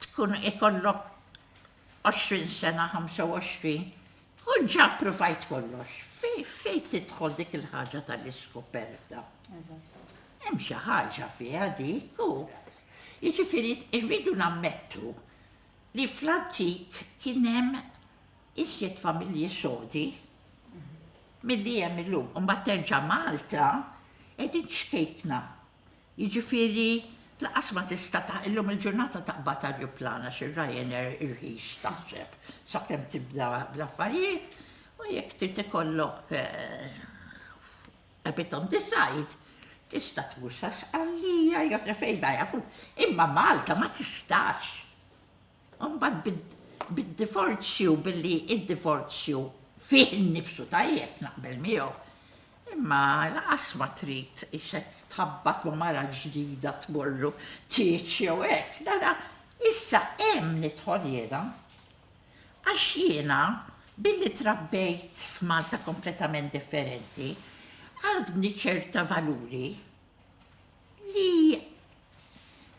tkun ikollok 20 sena, 25, tkun ġa ppruvajt kollox. Fejn tidħol dik il-ħaġa tal-iskoperta? Hemm xi ħaġa fiha dik u jiġifieri rridu nammettu li fl-antik kien hemm Iżjed familji sodi milli hemm illum. U mbagħad terġa' Malta qegħdin ċkejkna. Jiġifieri lanqas ma tista' ta' illum il-ġurnata taqbad ajruplan għax ir-Ryanair irħis taħseb sakemm tibda bl-affarijiet u jekk trid ikollok a bit on the side tista' tmur sa Sqallija jew sa fejn ma jafux. Imma Malta ma tistax. U mbagħad bid-divorzju, billi d-divorzju fih innifsu tajjeb, naqbel miegħu, imma lanqas ma trid ix hekk tħabbat ma' mara l-ġdida tmur tieġ jew hekk, la la, issa hemm nidħol jiena. Għax jiena, billi trabbejt f'Malta kompletament differenti, għadni ċerta valuri. Li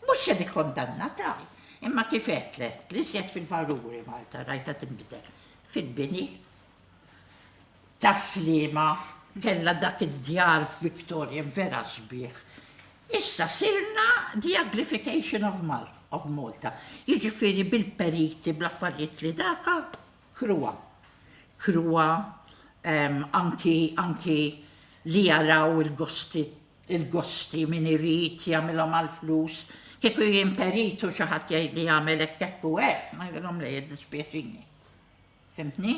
mhux se nikkondanna ta' imma kif għedtlek, li żjed fil-valuri Malta rajta tinbidel fil-bini tas-sliema kellha dak id-djar Victorian vera sbieħ. Issa sirna the uglification of Malta of Malta. Jiġifieri bil-periti, bl-affarijiet li daka, kruwa. Kruwa, anki, anki li jaraw il-gosti Il-gosti min irid jagħmilhom għall-flus, kieku jien perit u xi ħadd jgħidli għamel hekk hekk u hekk, ngħidilhom le jiddispjaċini. Fimtni?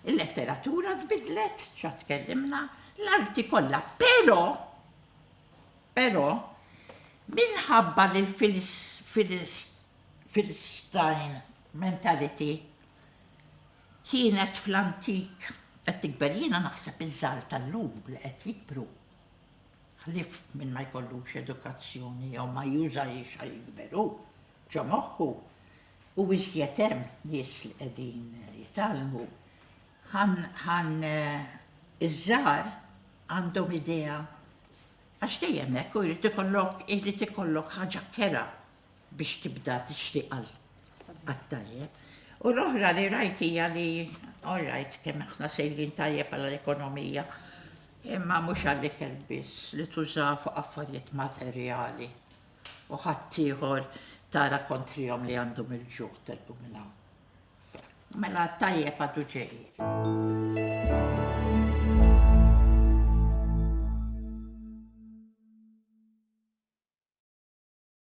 Il-letteratura tbidlet, xa tkellimna, l-arti kollha, però però minħabba li l-Filistin mentality kienet fl-antik qed tikber jiena naħseb iż-żgħar tal-lum li qed jikbru Ħlief min ma jkollux edukazzjoni jew ma jużahiex ħa jikber hu, ġo moħħu, u iżjed hemm nies li qegħdin jitgħallmu, ħan iż-żgħar għandhom idea għax dejjem hekk hu jrid ikollok ħaġa kerha biex tibda tixtieq għal għat-tajjeb. U l-oħra li rajt hija li all right kemm aħna sejrin tajjeb għal l-ekonomija imma mhux għall-ikel biss li tuża fuq affarijiet materjali u ħaddieħor tara kontrihom li għandhom il-ġuħ telqu minn hawn. Mela t-tajjeb għadu ġej.